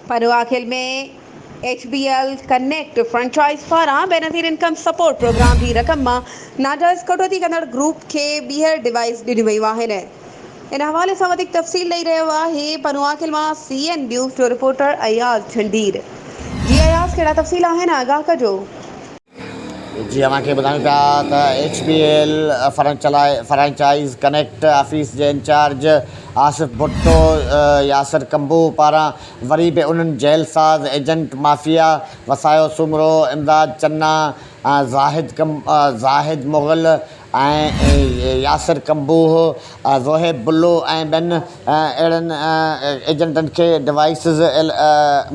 Panwakhel ۾ H B L connect franchise پاران Benazir income support programme جي رقم مان ناجائز ڪٽوتي ڪندڙ گروپ کي ٻيهر ڊوائيس ڏنيون ويون آهن ان حوالي سان وڌيڪ تفصيل ڏئي رهيو آهي پنواخيل مان سي اين نيوز جو رپورٽر اياز جھندير جي اياز ڪهڙا تفصيل آهن آگاهه ڪجو. جي اوهان کي ٻڌايون پيا ته H B L franchise connect office جي انچارج آصف ڀٽو ياسر ڪنڀو پاران وري به انهن جيل ساز ايجنٽ مافيا وسايو سومرو، امداد چنا، زاهد مغل، ۽ ياسر ڪمبوه، زوهيب بلو ۽ ٻين اهڙن ايجنٽن کي ڊوائيسز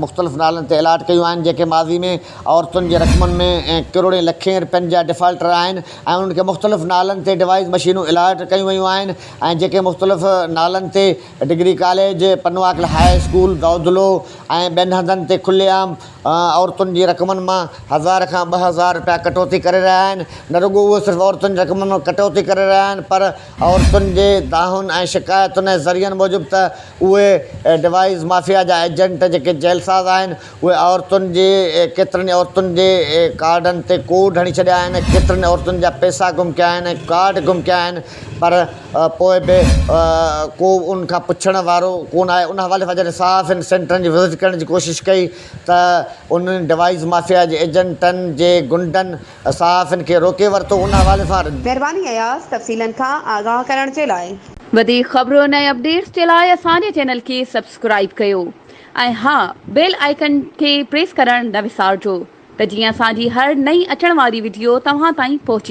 مختلف نالن تي الاٽ ڪيون آهن جيڪي ماضي ۾ عورتن جي رقمن ۾ ڪروڙين لکين رپين جا ڊفالٽر آهن ۽ انهن کي مختلف نالن تي ڊوائيس مشينون الاٽ ڪيون ويون آهن ۽ جيڪي مختلف نالن تي degree college, Panwakal high school, Dodlo ۽ ٻين هنڌن تي کلي عام عورتن جي رقمن مان هزار کان ٻه هزار رپيا ڪٽوتي ڪري رهيا آهن، نه رڳو اهو صرف عورتن جي رقمن مان ڪٽوتي ڪري رهيا آهن پر عورتن جي دانهن ۽ شڪايتن ۽ ذريعن موجب ته اهي ڊوائيز مافيا جا ايجنٽ جيڪي جيل ساز آهن اهي عورتن جي ڪيترن ئي عورتن جي ڪارڊن تي ڪوڙ هڻي ڇڏيا آهن ڪيترن ئي عورتن جا پئسا گم ڪيا آهن ۽ ڪارڊ گم ڪيا آهن پر پوء به ڪو ان کان پڇڻ وارو ڪونه آيو ان حوالي سان جڏهن صحافين سينٽرن جي وزٽ ڪرڻ جي ڪوشش ڪئي ته انهن ڊوائيز مافيا جي ايجنٽن جي غنڊن صحافين کي روڪي ورتو ان حوالي سان مھرباني اياز تفصيلن کان آگاھ ڪرڻ جي لاء. وڌيڪ خبرن ۽ اپڊيٽس جي لاء اسان جي چينل کي سبسڪرائيب ڪيو ۽ ها بيل آئيڪن کي پريس ڪرڻ نه وسارجو ته جيئن اسان جي هر نئين اچڻ واري وڊيو توهان تائين پهچي